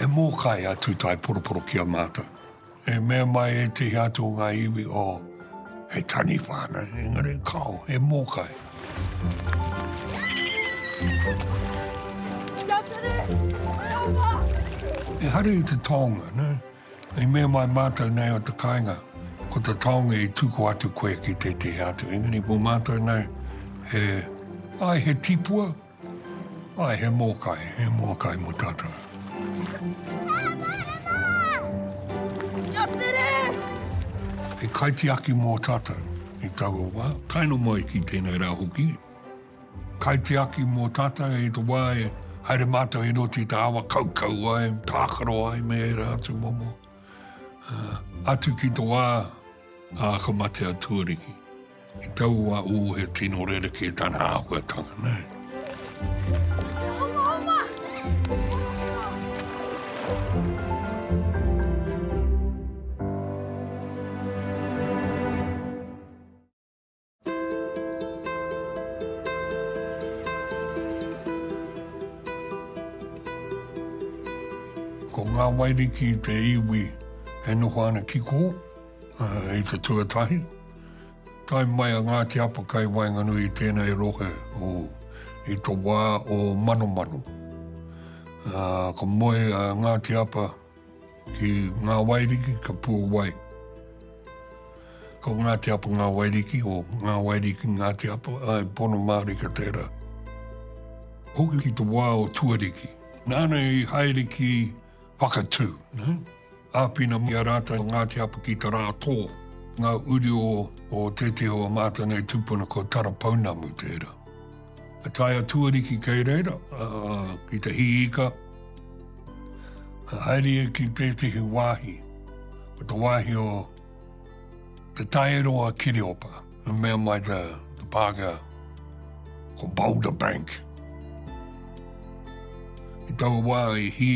E mōkai a Tūtae Poroporo ki a mātou. E mea mai ētehi atu o ngā iwi, oh, he taniwha ana, engari kāo, he mōkai. Kia tere! Kia ora! Ehara i te taonga, nē? I mea mai mātou nei o te kāinga, ko te taonga i tuku atu koe ki tētehi atu, engari mō mātou nei, he, āe he tipua, āe he mōkai, he mōkai mō tātou. He kaitiaki mō tātou i taua wā, tae noa mai ki tēnei rā hoki. Kaitiaki mō tātou i te wā e haere mātou i roto i te awa kaukau ai, tākaro ai me ērā atu momo, atu ki te wā a Akamatea tuariki. I taua wā, ū, he tino rerekē tana āhuatanga, nē. Ko ngā Wairiki te iwi e noho ana ki kō, i te tuatahi. Tae mai a Ngāti Apa kai waenganui i tēnei rohe o, i to wā o Manomano. Ko moe a Ngāti Apa, Ki Ngā Wairiki, ka puawai. Ko Ngāti Apa Ngā Wairiki, o Ngā Wairiki Ngāti Apa, ai pono mārika tērā. Hoki ki te wā o Tuariki. Nāna i haere ki Whakatū. Ne? Āpina mi a rātou Ngāti Apa ki te rā tō. Ngā uri o, o tētehi o a mātou nei tūpuna ko Tarapounamu tērā. Ka tae a Tuariki kei reira, ki te hī ika. Ka haere ia ki tētehi wāhi, ko te wāhi o Te Taeroa Kireopa, i mea mai te, te Pākehā, ko Boulder Bank. I taua wā i hī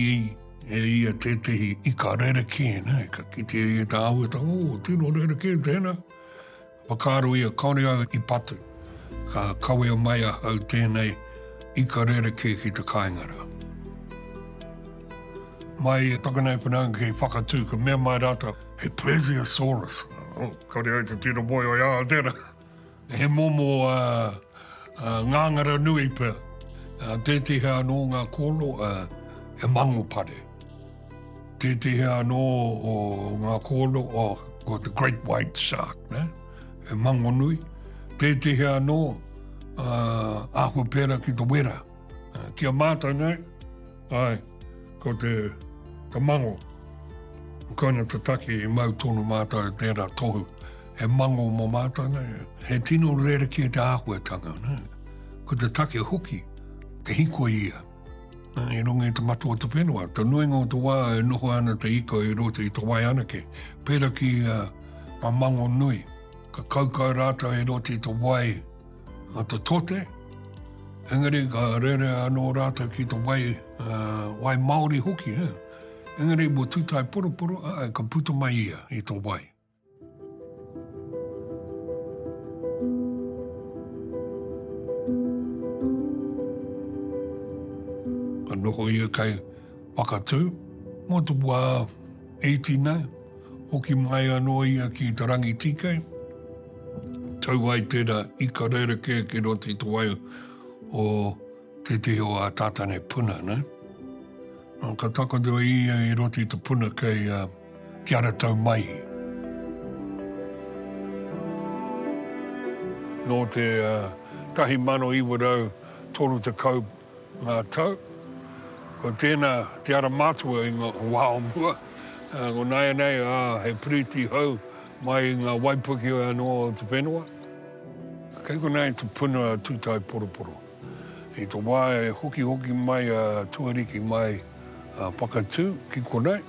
e ia tētehi ika rerekē, nei, ka kitea ia tāua, tā, o, tino rerekē tēnā. Whakaaro ia, kāore au i patu, ka kawea mai ahau tēnei ika rerekē ki te kāinga rā. Mai i Pakanui Whanaunga ki Whakatū, ka mea mai rātou, he Plesiosaurus. Oh, kāore au te tino moe o ia, tērā. He momo ngāngara nui pea, tētehi anō ngā kōrero, he mangopare. Tētehi anō o ngā kōno, ko te great white shark, ne? he mango nui. Tētehi anō uh, āhua pērā ki te wera. Uh, ki a mātou nei, ai, ko te, te mango. Koina te taki i mau tonu mātou tērā tohu. He mango mō mātou nei. He tino rere ki te āhuatanga. Ne? Ko te take hoki, te hiko ia. I runga i te matua o te whenua, te nuinga o te wā e noho ana te ika i roto i te wai anake, pērā ki a, a Mango Nui. Ka kaukau rātou i roto i te wai a te tote, engari ka rere anō rātou ki te wai, uh, wai Māori hoki. Eh? Engari mo tūtai poroporo, ai, ka puta mai ia i te wai. Ka noho ia kei Whakatū, mō te wā iti nei, hoki mai anō ia ki Te Rangitīkei, tau ai tērā ika rerekē ki roto i te wai o tētehi o ā Tātane puna nei. Nō, ka takoto ia i roto i te puna kei Kia ra tau mai. Nō te 1930 ngā tau, ko tēnā te ara mātua i ngā wā o mua, ko nāianei ā, he piriti hou mai i ngā waipuke anō o te whenua. Kei konā i te puna a Tūtaeporoporo. I te wā e hokihoki mai a Tuariki mai a Whakatū ki konei,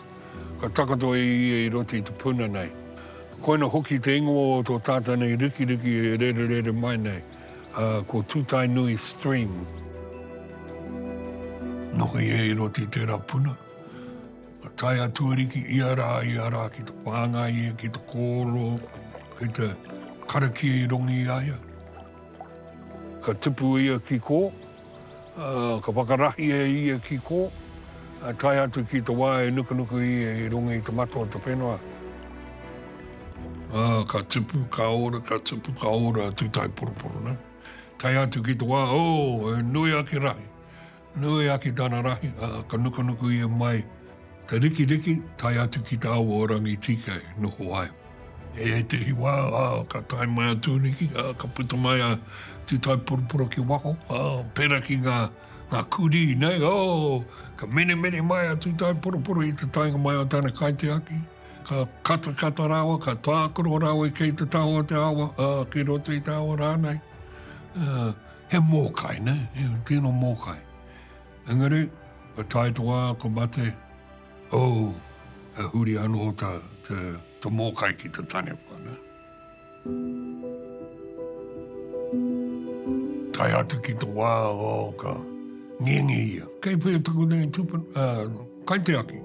Ka takoto e ia i roto i te puna nei. Koina hoki te ingoa o tō tātou nei rikiriki e rererere mai nei, ā, ko Tūtaenui Stream. Noho ia i roto i tērā puna. Ka tae a Tuariki ia rā, ia rā ki te whāngai ia ki te kōrero kei te karakia i rongi i a ia. Ka tipu ia ki kō, Ka whakarahi e ia ki kō, tae atu ki te wā e nukunuku ia i runga i te mata o te whenua. Ka tupu, ka ora, ka tupu, ka ora a Tūtaeporoporo nei. Tae atu ki te wā, oh, he nui ake rahi, nui ake tana rahi, ka nukunuku ia mai, Te rikiriki, tae atu ki te awa o Rangitīkei, noho ai. I ētehi wā, ā, ka tae mai a Tūniki, ā, ka puta mai a Tūtaiporoporo ki waho, ā, pērā ki ngā, ngā kurī nei, ō, ka menemene mai a Tūtaiporoporo i te taenga mai o tana kaitiaki, ka katakata rāua, ka tākaro rāua i kei te taha o te awa, ā, ki roto i te awa rānei. Ā, he mōkai, nē, he tino mōkai. Engari, ka tae to wa ko mate, oh, e huri ano ta, ta, ta mokai ki ta tane wha, na. Tae atu ki to wa, oh, ka ngengi ia. Kei whea taku nei tupan, ah, kai te aki.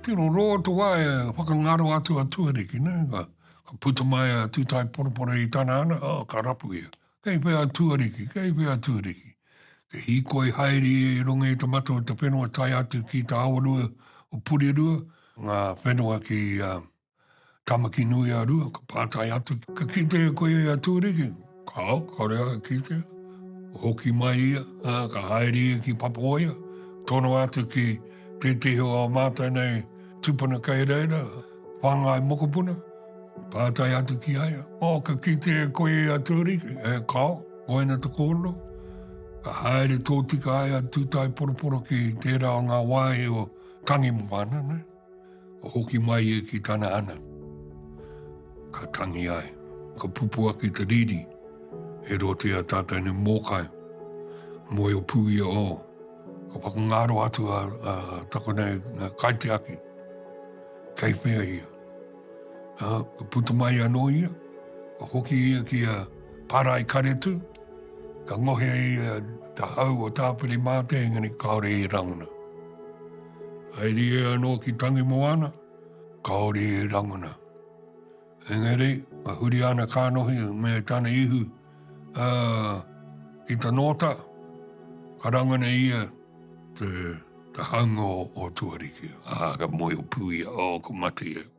Tino roa to wa e whakangaro atu a tuariki, na, ka, Ka puta mai a Tūtaeporoporo i tana ana, oh, ka rapu ia. Kei whea a Tuariki, kei whea a Tuariki? Ka hīkoi haere ia i runga i te mata o te whenua tae atu ki te awarua o Purirua, ngā whenua ki Tamakinui-a-Rua, ka pātai atu, ka kite koe a Tuariki? Kāo, kāore au e kitea. Hoki mai ia, ā, ka haere ia ki Papawaia, tono atu ki tētehi o ā mātou nei tūpuna kei reira, whāngai mokopuna, pātai atu ki a ia, ō, ka kitea e koe a Tūriki, e, kāo, koina te kōrero. Ka haere tōtika ai a Tūtaeporoporo ki tērā o ngā wāhi o Tangimoana, nei. Ka hoki mai ia ki tana hana, ka tangi ai. Ka pupu ake te riri, he rote a tātou nei mōkai, moe o Pūia o. Ka whakangaro atu a, a takona e kaitiaki, kei whea ia. Ha, ka putu mai anō ia, ka hoki ia ki a Parai Karetu, ka ngohe ia te hau o Tāwhiri Mātea, engari kāore i rangona. Haere ia anō ki Tangimoana, kāore e rangona. Engari, ka huri ana kānohi me tana ihu uh, i ta nōta, ka rangona ia te, te haunga o, o Tuariki. Ah, ka moe o pūia, oh, ko mate ia.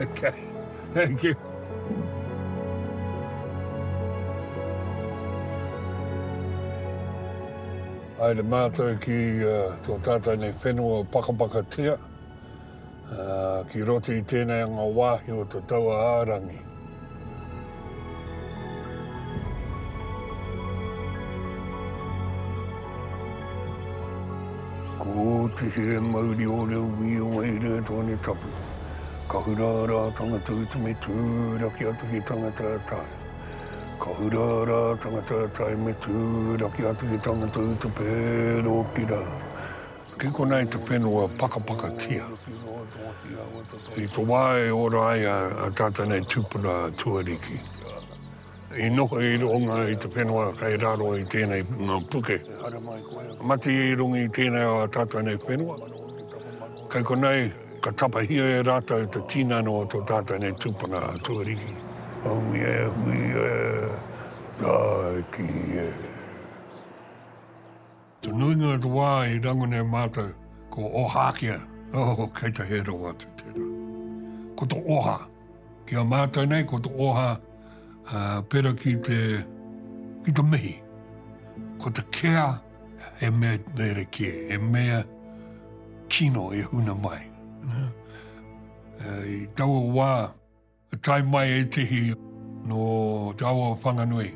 Okay, thank you. Aere mātou ki uh, tō tātou nei whenua pakapaka tia, uh, ki roti i tēnei anga wāhi o te taua ārangi. Ko te here mauri o Reuwi o Wairere Tone Tapu, ka hura rā tana tautume tūraki atu ki tana tātai. Ka hura rā tana tātai me tūraki atu ki tana tautupe rōki rā. Kei konā i te whenua pakapakatia. I te wā e ora ai a tātou nei tūpuna tuariki, i noho i runga i te whenua kei raro i tēnei ngā puke. Mati i runga i tēnei o a tātou nei whenua. Kei konei, ka tapahia e rātou te tīnano o tō tātou nei tūpuna tuariki. Hongi e, hui e, tāiki e. Te nuinga o te wā i rangona e mātou ko Ohākea, oh, kei te hē rawa atu tērā. Ko te oha, ki a mātou nei, ko te oha uh, pera ki te, ki te mihi. Ko te kea, he mea nere kē, he mea kino e huna mai. Uh, i taua wā, I tae mai ētehi nō te ao o Whanganui.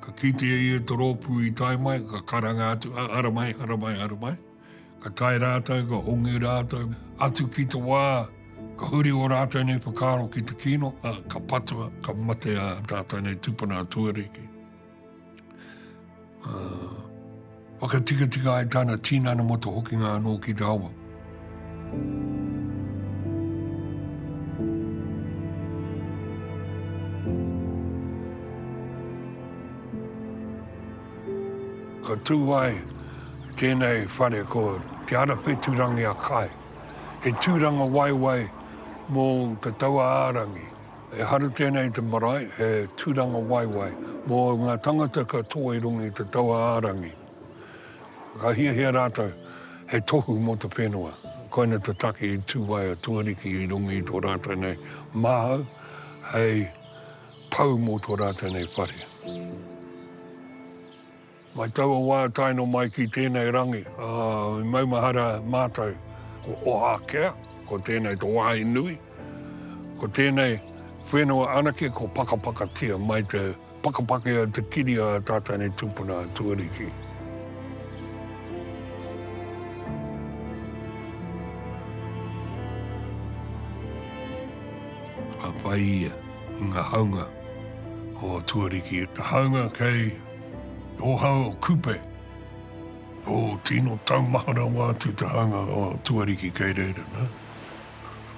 Ka kitea ia te rōpū i tae mai, ka karanga atu, hara mai, hara mai, hara mai. Ka tae rātou, ka hongi rātou, atu ki te wā, ka huri o rātou nei whakaaro ki te kino, ka patua, ka matea tātou nei tūpuna a Tuariki. Whakatikatika ai tāna tīnana mo to hokinga anō ki te awa. Ka tū ai tēnei whare ko Te Arawheturangi a Kae. He tūranga waewae mō te taua ārangi. He haru tēnei i te marae, he tūranga waewae mō ngā tangata ka tō i runga i te taua ārangi. Ka hiahia rātou hei tohu mō te whenua. Koina te take i tū ai a Tuariki i runga i tō rātou nei māhau hei pau mō tō rātou nei whare. Mai taua wā taeno mai ki tēnei rangi, ā, i maumahara mātou ko Ohākea, ko tēnei tō wāhi nui, ko tēnei whenua anake ko Pakapakatia mai te pakapake a te kiri a Tātane Tūpuna a Tuariki. whai ia i ngā haunga o Tuariki. Te haunga kei Oha o Kupe, o tino taumaha rawa atu te hanga o Tuariki kei reira, nā.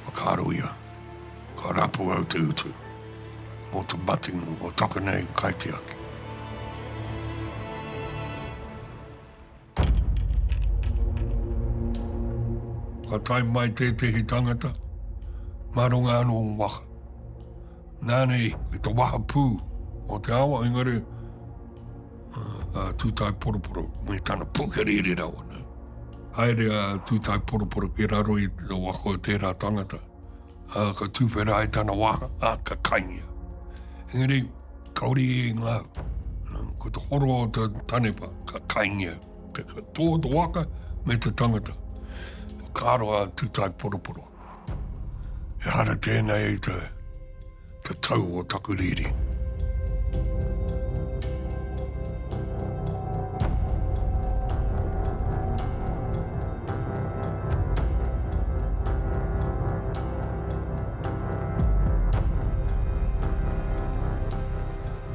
Whakaaro ia, ka rapu au te utu mō te matenga o taka nei kaitiaki. Ka tae mai tētehi tangata, mā runga anō o waha. Nānei, i te waha pū o te awa, engari, a Tūtai Poroporo, me tana pukerīri rawa. Haere a Tūtai Poroporo ki raro i te wako o tērā tangata. ā, ka tūwhera ai tana wā, ā, ka kaingia. Engari, kaore i inga au. Ko te horo o te tanepa, ka kaingia. Te tō te waka me te tangata. Ka aroa tūtai poroporo. Ehara tēnei i te Te tau o taku riri.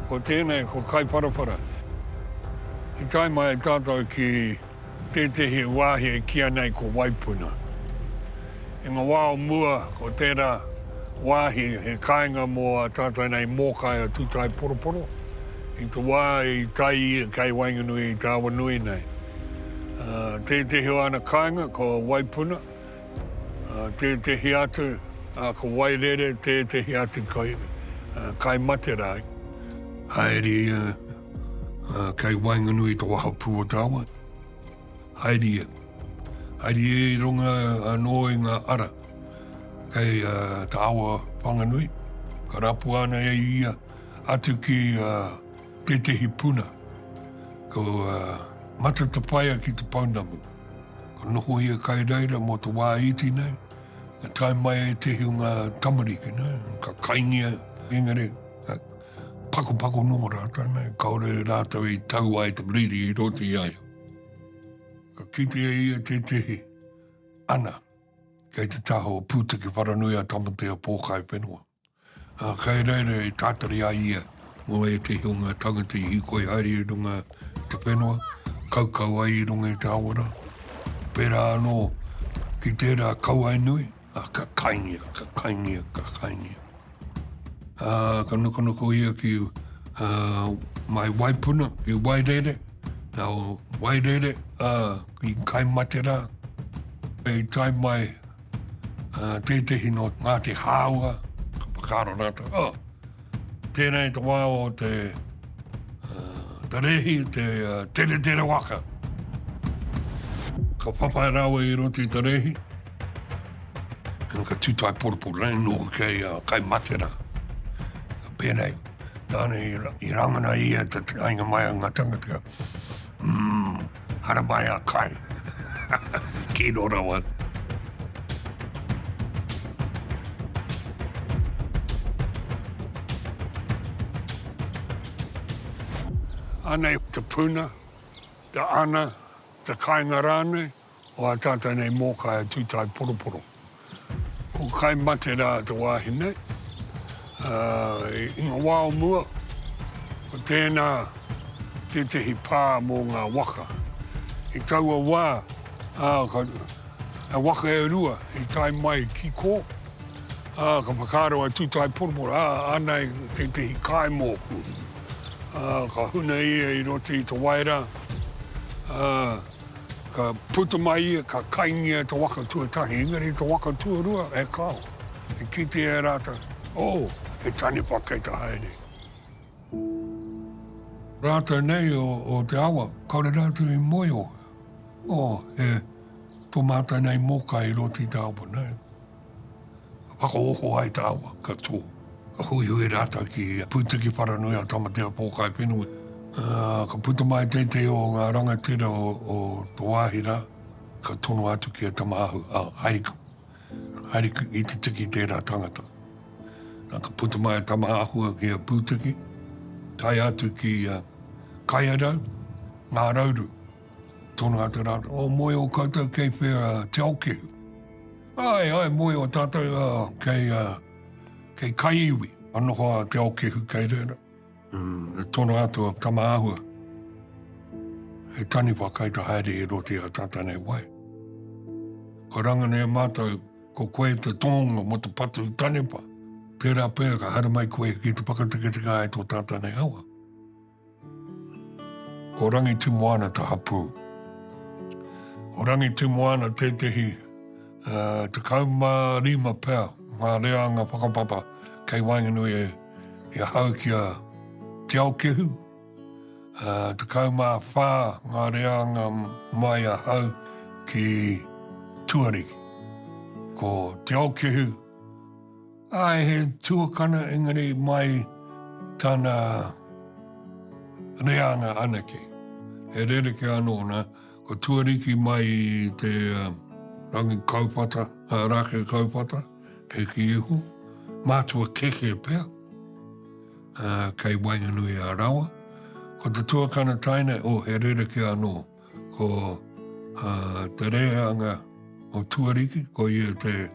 Ko tēnei, ko Kaiparapara. I tae mai ai tātou ki. Tētehi wāhi e kīia nei ko Waipuna. I ngā wā o mua, ko tērā wāhi he kāinga mō ā tātou nei mōkai a Tūtaeporoporo, i te wā i tae ia kei waenganui i te awa nui nei. Tētehi o ana kāinga ko Waipuna, tētehi atu ko Wairere, tētehi atu kai Materai. Haere ia Kei waenganui i te wahapū o te awa. Haere ia. Haere ia i runga anō i ngā ara kei te awa Whanganui. Ka rapua ana e ia atu ki tētehi puna. Ko Matatapaia ki te pounamu. Ka noho ia kai reira mō te wā iti nei. Ka tae mai ētehi o ngā tamariki nei. Ka kaingia, engari, Pakopako nō rātou nei, kāore rātou i tau ai te riri i roto i a ia. Ka kitea ia tētehi, ana, kei te taha o Pūtake Wharanui a Tamatea Pōkai Whenua. Uh, kei reira e tātari a ia mō ētehi o ngā tangata i hikoi haere i runga i te whenua, kaukau ai i runga i te awara. Pērā anō ki tērā kauae nui, Ā, ka kaingia, ka kaingia, ka kaingia. Ā, ka nokonoko ia ki ā, mai waipuna, ki Wairere. Nā Wairere, ā, ki Kaimaterā. Hei tae mai ā, tētehi nō Ngāti Hāua, ka whakaaro rātou, ā, Tēnei te wā o te, uh, te rehi, te uh, tere tere waka. Ka whawhai rawe i roti te rehi. Kena ka tūtai poroporo rei nō kei uh, kai matera. Pēnei, tāne i, i rangana ia te ainga mai a ngā tangatika. Mm, Hara mai a kai. Kino rawa. Anei te puna, te ana, te kainga rānei, o a tātou nei mōkai a Tūtai Poroporo. Ko kai mate rā te wāhine. I ngā wā o mua, ko tēnā tētehi pā mō ngā waka. I taua wā, he waka e rua i tae mai ki kō, ka whakaaro a Tūtaeporoporo, ā, anei tētehi kai mōku. Ka huna ia i roto i te wai rā. Ka puta mai ia, ka kaingia e te waka tuatahi, engari te waka tuarua he kao. E kitea e rātou, oh, he taniwha kei te haere. Rātou nei o, o te awa, kaore rātou i moe, oh, oh, he, tō mātou nei mōkai i roto i te awa, nei. Ka whakaoho ai te awa, ka tō. Ka huihui rātou ki Pūtiki Wharanui a Tamatea Pōkaiwhenua. Ka puta mai teitei o ngā rangatira o to wāhi rā, ka tono atu ki a Tamaahu, Haere ku, haere ku i te tiki tērā tangata. Na ka puta mai a Tamaahua ki a Pūtiki, tae atu ki a Kaiarau, Ngā Rauru. Tono atu rātou, o moe o koutou kei whea Te Aokehu? Ae, ae, moe o tatou a, kei a, kei Kaiiwi, ka noho a Te Aokehu kei reira. Mm, e tono atu a Tamaahua, he taniwha kai ta haere i roto i a tata nei wai. Ka rangana e mātou, ko koe te tōnga mo te patu taniwha, tērā pea ka haere mai koe ki te whakateketeke ai tō tata nei awa. Ko Rangitumoana te hapū. Ko Rangitumoana tētehi uh, tekau mā rima pea ngā reanga whakapapa kei waenganui e, e hau ki a Te Aokehu. Uh, tekau mā whā ngā reanga mai a hau ki Tuariki. Ko Te Aokehu, Ae, he tuakana engari mai tana reanga anake. He rerekē anō nā, ko Tuariki mai i te rangi kauwhata, rāke kauwhata, Heki Ihu, mātua keke pea, kei waenganui a Rawa. Ko te tuakana taina, oh, he rerekē anō. Ko te rehanga o Tuariki, ko ia te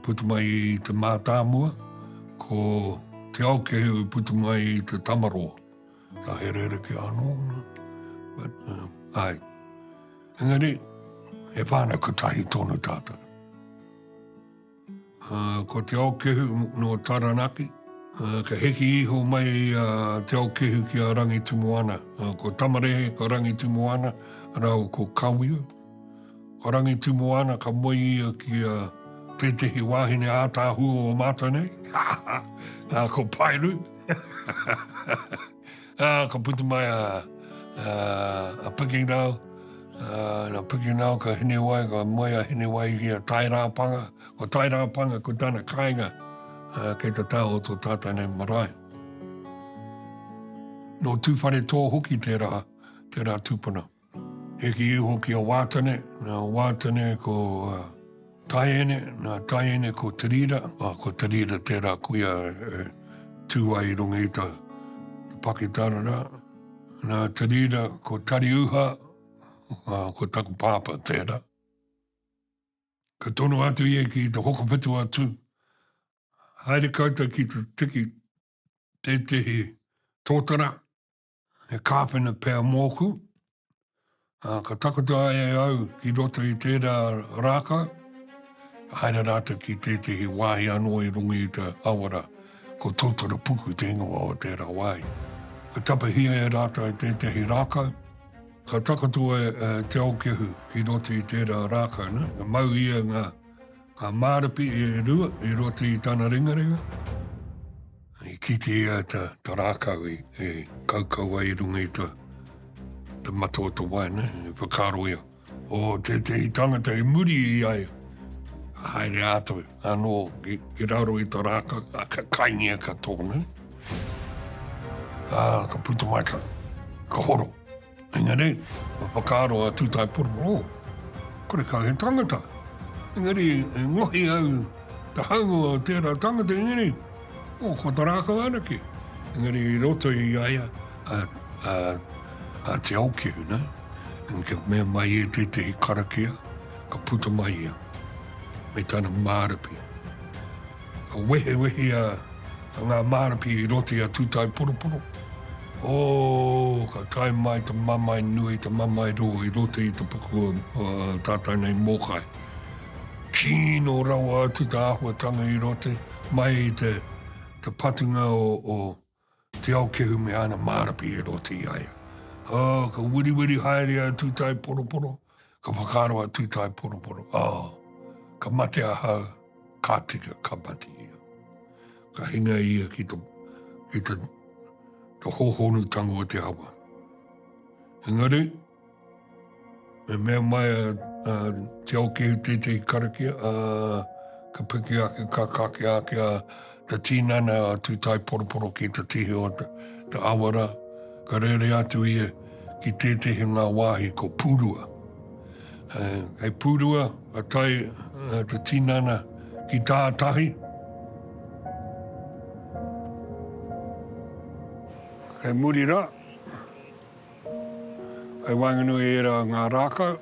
putu mai i te mātāmua, ko te aokehu putu mai i te tamaroa. Ka he rereke anō. Ai. Engari, e whāna kutahi tōnu tātou. Ko Te Aokehu nō Taranaki. Ka hiki iho mai a Te Aokehu ki a Rangitumoana. Ko Tamarehe ko Rangitumoana rāua ko Kawiu. Ko Rangitumoana ka moe ia ki a tētehi wāhine ātaahua o mātou nei, ko Paeru. Ah, ka puta mai a, uh, a Piki Rau, uh, na Piki Rau ka Hinewai, ka moe a Hinewai ki a Tairāpanga. Ko Tairāpanga, ko tana kāinga, uh, kei te taho o tō tātou nei marae. No Tūwhare Tō hoki tērā, tērā tūpuna. Hiki iho ki a Wātene, nā Wātene ko Taiene, nā Taiene ko Te Rira, ā, ko Te Rira tērā kuia e tū ai i runga i tā Pakitara rā. Nā Te Rira ko Tariuha, ā, ko taku pāpā tērā. Ka tono atu ia ki te hokowhitu a Tū, Haere koutou ki te tiki tētehi tōtara, He kāwhena pea mōku, ā, ka takoto ai e au ki roto i tērā rākau, ka haere rātou ki tētehi wāhi anō i runga i te awa rā. Ko Tōtarapuku te ingoa o tērā wāhi. Ka tapahia e rātou tētehi rākau, ka takoto e Te Aokehu ki roto i tērā rākau, nā, ka mau ia ngā. Ka māripi e Rua, e Roti i tana ringaringa. I kite ia ta, ta rākau e, e kaukau ai i runga i ta, ta mata o ta wai, ne, e whakaaro ia. O tētehi tangata i muri i a ia. Ka haere atu anō ki, ki raro i ta rākau, a, ka kaingia katoa, ne. Ā, ka puta mai, ka, ka horo. Engari, kua whakaaro a Tūtaepororo, oh, kore kau he tangata. Engari, e ngohi au te haunga o tērā tangata, engari, oh, kua ta rākau anake. Engari, i roto i a ia, a, a, a Te Aokiu, ne? Engari, kia mea mai e tētehi karakia, ka puta mai ia, me tana mārapi. Ka wehewehea ngā mārapi i roto i a Tūtaeporoporo. Ō, ka tae mai te mamae nui, te mamae rō i roto i te puku o tātou nei mōkai. Kino rawa atu te āhuatanga i roto, mai i te patunga o, Te Aokehu me ana mārapi e rota i a ia. Oh, ka wiriwiri haere a Tūtaeporoporo, ka whakaaro a Tūtaeporoporo, oh, ka mate ahau, ka tika, ka mate ia. Ka hinga ia ki te, ki te, te hohonutanga o te awa. Engari, Me mea mai a Te Aokehu tētehi karakia, ka piki ake, ka kakea ake a te tinana a Tūtaeporoporo ki te tihi o Te Awara. Ka rere atu ia ki tētehi o ngā wāhi ko Pūrua. Hei Pūrua, ka tae te tinana ki tātahi. Hei muri rā, I waenganui i ērā ngā rākau,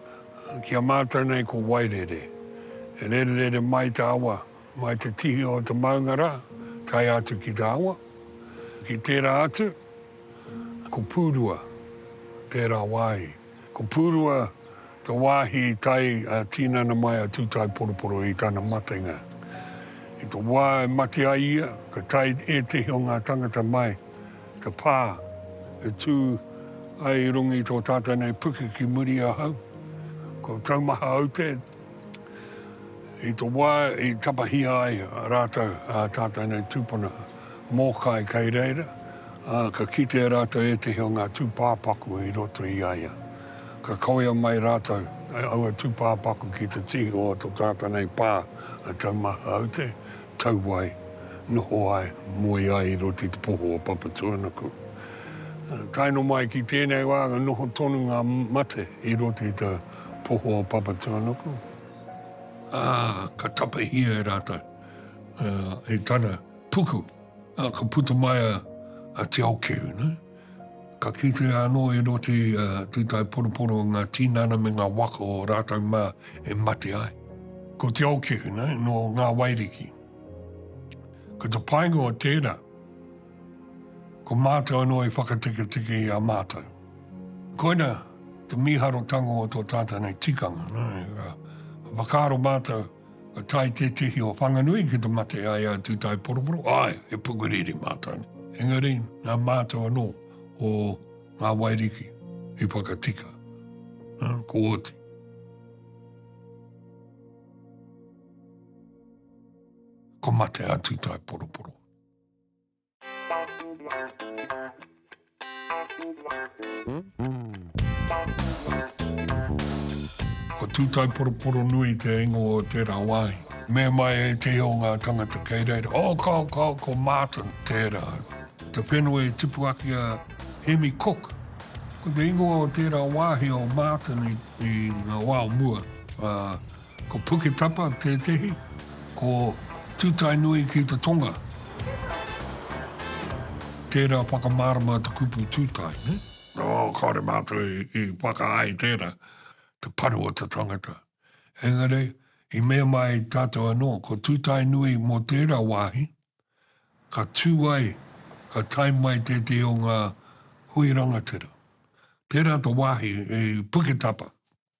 ki a mātou nei ko Wairere. E rererere mai te awa, mai te tihi o te maunga rā, tae atu ki te awa. Ki tērā atu, ko Pūrua tērā wāhi. Ko Pūrua te wāhi i tae ā-tinana mai a Tūtaeporoporo i tana matenga. I te wā e mate ai ia, ka tae ētehi o ngā tangata mai Ka pā, e tū ai i runga i tō tātou nei puke ki muri ahau, ko Taumaha Aute, i te wā i tapahia ai rātou ā tātou nei tūpuna mōkai kei reira, ā, ka kitea rātou ētehi o ngā tūpāpaku i roto i a ia. Ka kawea mai rātou, aua tūpāpaku ki te tihi o to tātou nei pā a Taumaha Aute, Tau wai, noho ai, moe ai i roto i te poho o Papatūānuku. Tae noa mai ki tēnei wā, ka noho tonu ngā mate i roto i te poho o Papatūānuku, ā, ka tapahia e rātou, e tana puku, ā, ka puta mai a Te Okiu, nē. Ka kitea anō e Roti a Tūtaeporoporo ngā tīnana me ngā waka o rātou mā e mate ai. Ko Te Aokehu nei nō Ngā Wairiki. Ko te painga o tērā, ko mātou anō i whakateketeke i a mātou. Koina te mīharotanga o tō tātou nei tikanga. Whakaaro mātou, Ka tae tētehi o Whanganui ki te mate a ia tū tai poroporo, āe, he pukuriri mātou. Engari, nā mātou anō o ngā Wairiki i whakatika. Nā, ko Oti. Ko mate a tū tai poroporo. Ko Tūtaiporoporonui te ingoa o tērā wāhi. Mea mai ētehi o ngā tangata kei reira, Oh, kao, kao, ko Martin tērā. Te whenua i tipu ake a Hemi Cook. Ko te ingoa o tērā wāhi o Martin i ngā wā o mua. Ko Puketapa tētehi, ko Tūtaenui ki te tonga. Tērā whakamārama te kupu tūtae, nē? Nō, kāore mātou i whakaae i tērā, te paru o te tangata. Engari, i mea mai tātou anō, ko Tūtaenui mō tērā wāhi, ka tū ai, ka tae mai tētehi o ngā hui rangatira. Tērā te wāhi i Puketapa.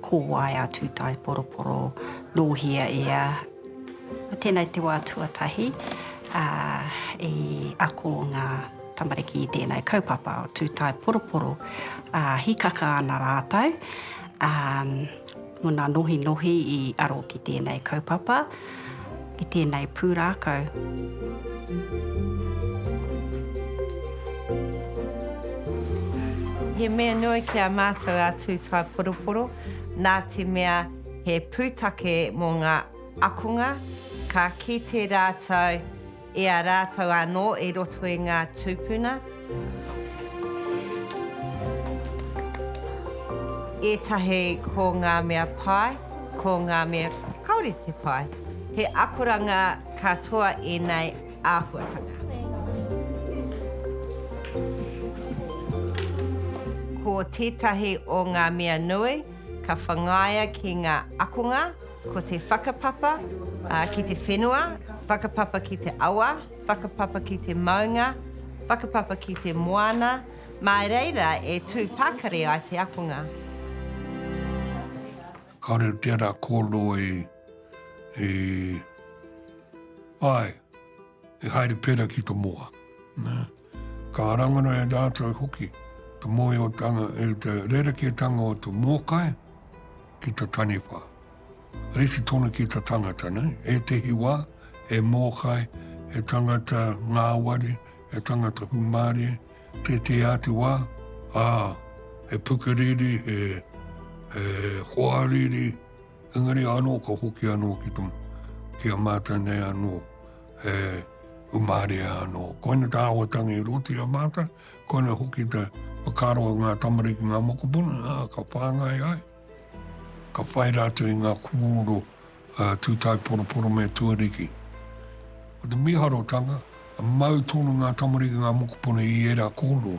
Ko wai a Tūtaeporoporo nōhia e a. Tēnā i te wā tuatahi i ako ngā tamariki i tēnei kaupapa o Tūtaeporoporo, hīkaka ana rātou, ngona nohinohi i aro ki tēnei kaupapa. i tēnei pūrākau. He mea nui ki a mātou a Tūtaiporoporo nā te mea he pūtake mō ngā akonga ka kite rātou E a rātou anō i roto i ngā tūpuna. Ētahi ko ngā mea pai, ko ngā mea kāore te pai. He akoranga katoa ēnei āhuatanga. Ko tētahi o ngā mea nui ka whangaia ki ngā akonga. Ko te whakapapa ki te whenua, whakapapa ki te awa, whakapapa ki te maunga, whakapapa ki te moana, mā reira e tū pakari ai te akonga. Kāore au tērā kōrero e, e, āe, e haere pērā ki te moa. Nā. Ka rangona e rātou hoki te mōhiotanga i te rerekētanga o te mōkai ki te taniwha. Rite tonu ki te tangata, nei? Ētehi wā, he mōkai, he tangata ngāwari, he tangata humārie, tētehi atu wā, ā, he pukeriri, he, he hoariri, Engari anō ka hoki anō ki te, ki a mātou nei anō, he umarea anō. Koina tā awa tangi i roti a mātou, koina hoki te whakaro i ngā tamariki, ngā mokopuna, ā, ka whāngai ai, ka whai rātou i ngā kōrero ā, tūtai poroporo me tuariki. Ko te mīharotanga, mau tonu ngā tamariki, ngā mokopuna i ērā kōrero,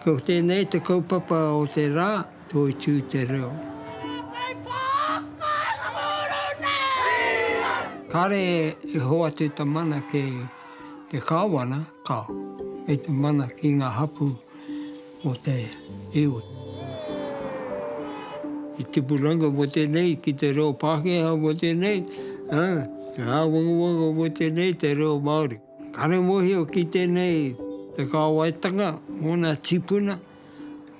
Ko tēnei te kaupapa o te rā, Toitū te reo. Kāre e hoatu ta mana ki te Kāwana. Ka. Kei te mana ki nga hapu o te iwi. Te tipuranga mo tenei ki te reo Pakeha mo tenei, a, te awangawanga mo tenei te reo Maori. Kare mohio ki tenei te kawaitanga mo na tipuna,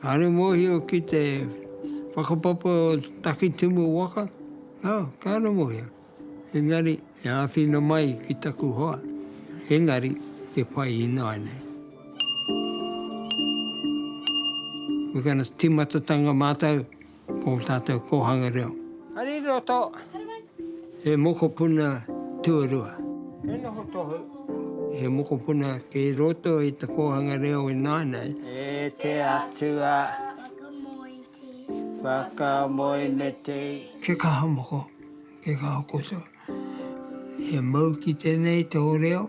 kare mohio ki te whakapapa o Takitimu waka, a, kare mohio. Engari, e āwhina mai ki taku hoa, engari e whai ināianei. We're gonna timatatanga mātou o tātou kōhanga reo. Hari roto. Hari mai. He mokopuna tuarua. He noho tohu. He mokopuna kei roto i te kōhanga reo ināianei. E te Atua. Whakamōi. Whakamoe me te. Kia kaha moko, kia kaha kotau. He mau ki tenei te oreo.